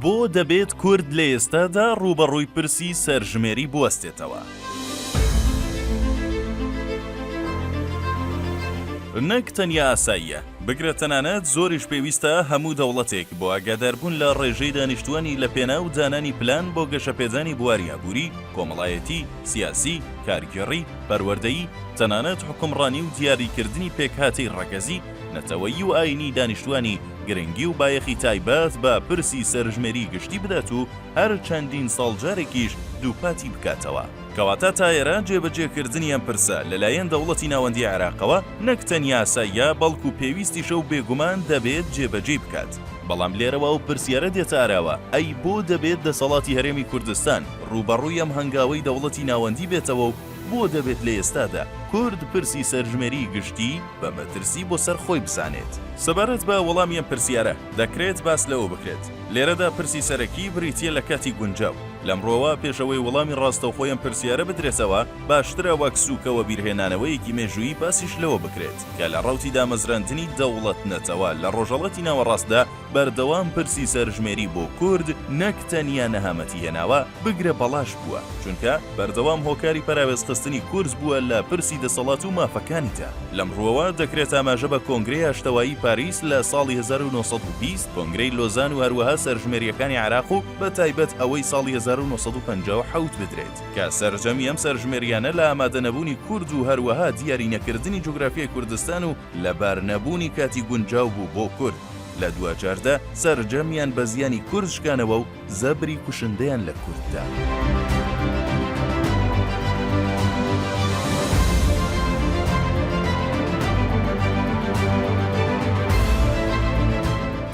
بۆ دەبێت کورد لە ئێستادا ڕووبەڕووی پرسی سەرژمێری بوەستێتەوە؟ نەک تەنیا ئاساییە، بگرە تەنانەت زۆریش پێویستە هەموو دەوڵەتێک بۆ ئاگاداربوون لە ڕێژەی دانیشتووانی لە پێناو دانانی پلان بۆ گەشەپێدانی بواری ئابووری، کۆمەڵایەتی، سیاسی، کارگێڕی، پەروەردەیی، تەنانەت حوکمڕانی و دیاریکردنی پێکهاتەی ڕەگەزی، نەتەوەیی و ئایینی دانیشتووانی گرنگی و بایەخی تایبەت بە پرسی سەرژمێریی گشتی بدات و هەر چەندین ساڵ جارێکیش دووپاتی بکاتەوە. کەواتە تا ئێرە جێبەجێکردنی ئەم پرسە لەلایەن دەوڵەتی ناوەندیی عێراقەوە نەک تەنیا ئاساییە، بەڵکو پێویستیشە و بێگومان دەبێت جێبەجێی بکات. بەڵام لێرەوە ئەو پرسیارە دێتە ئاراوە، ئەی بۆ دەبێت دەسەڵاتی هەرێمی کوردستان، ڕووبەڕووی ئەم هەنگاوەی دەوڵەتی ناوەندی بێتەوە و بۆ دەبێت لە ئێستادا کورد پرسی سەرژمێریی گشتی بە مەترسی بۆ سەر خۆی بزانێت؟ سەبارەت بە وەڵامی ئەم پرسیارە، دەکرێت باس لەوە بکرێت، لێرەدا پرسی سەرەکی بریتییە لە کاتی گونجاو. لەمڕۆوە پێش ئەوەی وەڵامی ڕاستەوخۆی ئەم پرسیارە بدرێتەوە، باشترە وەک سووکە و وەبیرهێنانەوەیەکی مێژوویی باسیش لەوە بکرێت کە لە ڕەوتی دامەزراندنی دەوڵەت-نەتەوە لە ڕۆژهەڵاتی ناوەڕاستدا، بەردەوام پرسی سەرژمێری بۆ کورد نەک تەنیا نەهامەتی هێناوە، بگرە بەڵاش بووە، چونکە بەردەوام هۆکاری پەراوێزخستنی کورد بووە لە پرسی دەسەڵات و مافەکانیدا. لەم ڕووەوە دەکرێت ئاماژە بە کۆنگرەی ئاشتەوایی پاریس لە ساڵی هەزار و نۆ سەد و بیست، کۆنگرەی لۆزان و هەروەها سەرژمێرییەکانی عێراق و بە تایبەت ئەوەی ساڵی هەزار و نۆ سەد و پەنجا و حەوت بدرێت، کە سەرجەمی ئەم سەرژمێرییانە لە ئامادەنەبوونی کورد و هەروەها دیارینەکردنی جوگرافیای کوردستان و لەبار نەبوونی کاتی گونجاو بوو بۆ کورد، لە دواجاردا سەرجەمیان بە زیانی کورد شکانەوە و زەبری کوشندەیان لە کورد دا.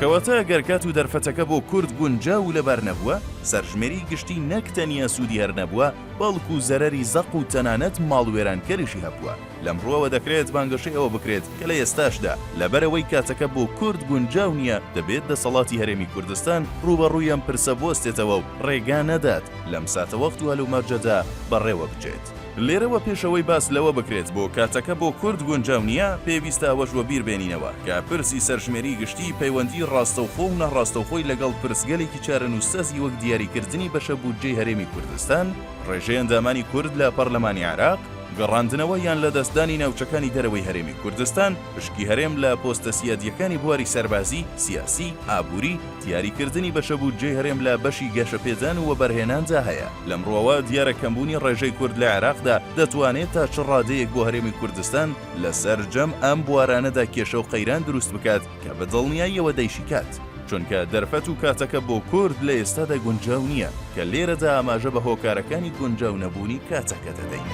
کەواتە گەر کات و دەرفەتەکە بۆ کورد گونجا و لەبار نەبووە سەرژمێری گشتی نەک تەنیا سوودی هەر نەبووە بەڵکو زەرەری زەق و تەنانەت ماڵوێرانکەریشی هەبووە لەم ڕووەوە دەکرێت بانگەشەی ئەوە بکرێت کە لە ئێستاشدا لەبەرئەوەی کاتەکە بۆ کورد گونجاو نییە دەبێت دەسەڵاتی هەرێمی کوردستان ڕووبەڕووی ئەم پرسە بوەستێتەوە و ڕێگا نەدات لەم ساتەوەخت و هەلومەرجەدا بەڕێوە بچێت. لێرەوە پێش ئەوەی باس لەوە بکرێت بۆ کاتەکە بۆ کورد گونجاو نییە، پێویستە ئەوەش وەبیر بێنینەوە کە پرسی سەرژمێری گشتی پەیوەندی ڕاستەوخۆ و ناڕاستەوخۆی لەگەڵ پرسگەلێکی چارەنووسسازی وەک دیاریکردنی بەشە بودجەی هەرێمی کوردستان، ڕێژەی ئەندامانی کورد لە پەڕلەمانی عێراق، گەڕاندنەوە یان لەدەستدانی ناوچەکانی دەرەوەی هەرێمی کوردستان، پشکی هەرێم لە پۆستە سیادییەکانی بواری سەربازی، سیاسی، ئابووری، دیاریکردنی بەشە بودجەی هەرێم لە بەشی گەشەپێدان و وەبەرهێناندا هەیە، لەم ڕووەوە دیارە کەمبوونی ڕێژەی کورد لە عێراقدا دەتوانێت تا چ ڕادەیەک بۆ هەرێمی کوردستان لە سەرجەم ئەم بوارانەدا کێشە و قەیران دروست بکات، کە بە دڵنیاییەوە دەیشیکات، چونکە دەرفەت و کاتەکە بۆ کورد لە ئێستادا گونجاو نییە، کە لێرەدا ئاماژە بە هۆکارەکانی گونجاو نەبوونی کاتەکە دەدەین.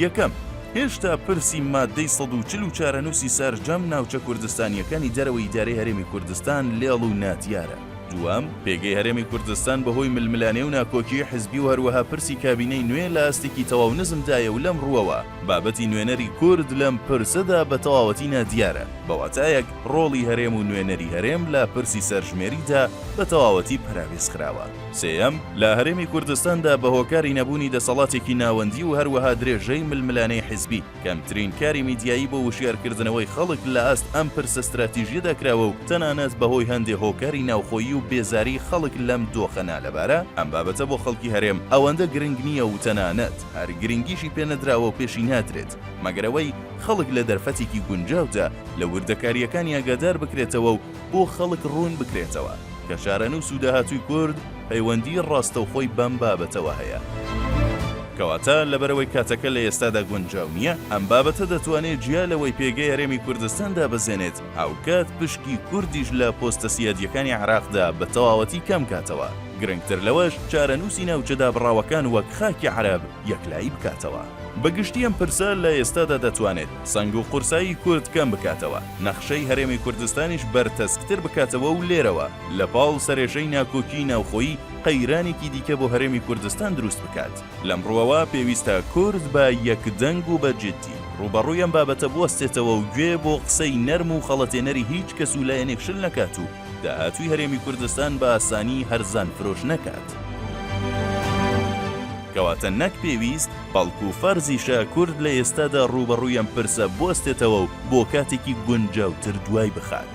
یەکەم، هێشتا پرسی ماددەی سەد و چل و چارەنووسی سارجەم ناوچە کوردستانییەکانی دەرەوەی ئیدارەی هەرێمی کوردستان لێڵ و نادیارە، دووەم، پێگەی هەرێمی کوردستان بەهۆی ململانێ و ناکۆکیی حزبی و هەروەها پرسی کابینەی نوێ لە ئاستێکی تەواو نزمدایە و لەم ڕووەوە بابەتی نوێنەری کورد لەم پرسەدا بە تەواوەتی نادیارە، بە واتایەک ڕۆڵی هەرێم و نوێنەری هەرێم لە پرسی سەرژمێریدا بە تەواوەتی پەراوێز خراوە. سێیەم، لە هەرێمی کوردستاندا بە هۆکاری نەبوونی دەسەڵاتێکی ناوەندی و هەروەها درێژەی ململانێی حزبی، کەمترین کاری میدیایی بۆ وشیارکردنەوەی خەڵک لە ئاست ئەم پرسە ستراتیژیەدا کراوە و تەنانەت بەهۆی هەندێ هۆکاری ناوخۆیی و بێزاری خەڵک لەم دۆخە نالەبارە ئەم بابەتە بۆ خەڵکی هەرێم ئەوەندە گرنگ نییە و تەنانەت هەر گرنگیشی پێ نەدراوە و پێشی نادرێت مەگەر ئەوەی خەڵک لە دەرفەتێکی گونجاودا لە وردەکارییەکانی ئاگادار بکرێتەوە و بۆ خەڵک ڕوون بکرێتەوە کە چارەنووس و داهاتووی کورد پەیوەندی ڕاستەوخۆی بەم بابەتەوە هەیە. کەواتە لەبەرئەوەی کاتەکە لە ئێستادا گونجاو نییە، ئەم بابەتە دەتوانێت جیا لەوەی پێگەی هەرێمی کوردستان دابەزێنێت، هاوکات پشکی کوردیش لە پۆستە سیادییەکانی عێراقدا بە تەواوەتی کەم کاتەوە، گرنگتر لەوەش چارەنووسی ناوچە دابڕاوەکان وەک خاکی عەرەب یەکلایی بکاتەوە. بە گشتی ئەم پرسە لە ئێستادا دەتوانێت سەنگ و قورسایی کورد کەم بکاتەوە، نەخشەی هەرێمی کوردستانیش بەرتەسکتر بکاتەوە و لێرەوە لە پاڵ سەرێژەی ناکۆکیی ناوخۆیی، قەیرانێکی دیکە بۆ هەرێمی کوردستان دروست بکات. لەم ڕووەوە پێویستە کورد بە یەکدەنگ و بە جیددی، ڕووبەڕووی ئەم بابەتە بوەستێتەوە و گوێ بۆ قسەی نەرم و خەڵەتێنەری هیچ کەس و لایەنێک شل نەکات و داهاتووی هەرێمی کوردستان بە ئاسانی هەرزان فرۆش نەکات. کەواتە نەک پێویست، بەڵکو فەرزیشە کورد لە ئێستادا ڕووبەڕووی ئەم پرسە بوەستێتەوە و بۆ کاتێکی گونجاوتر دوای بخات.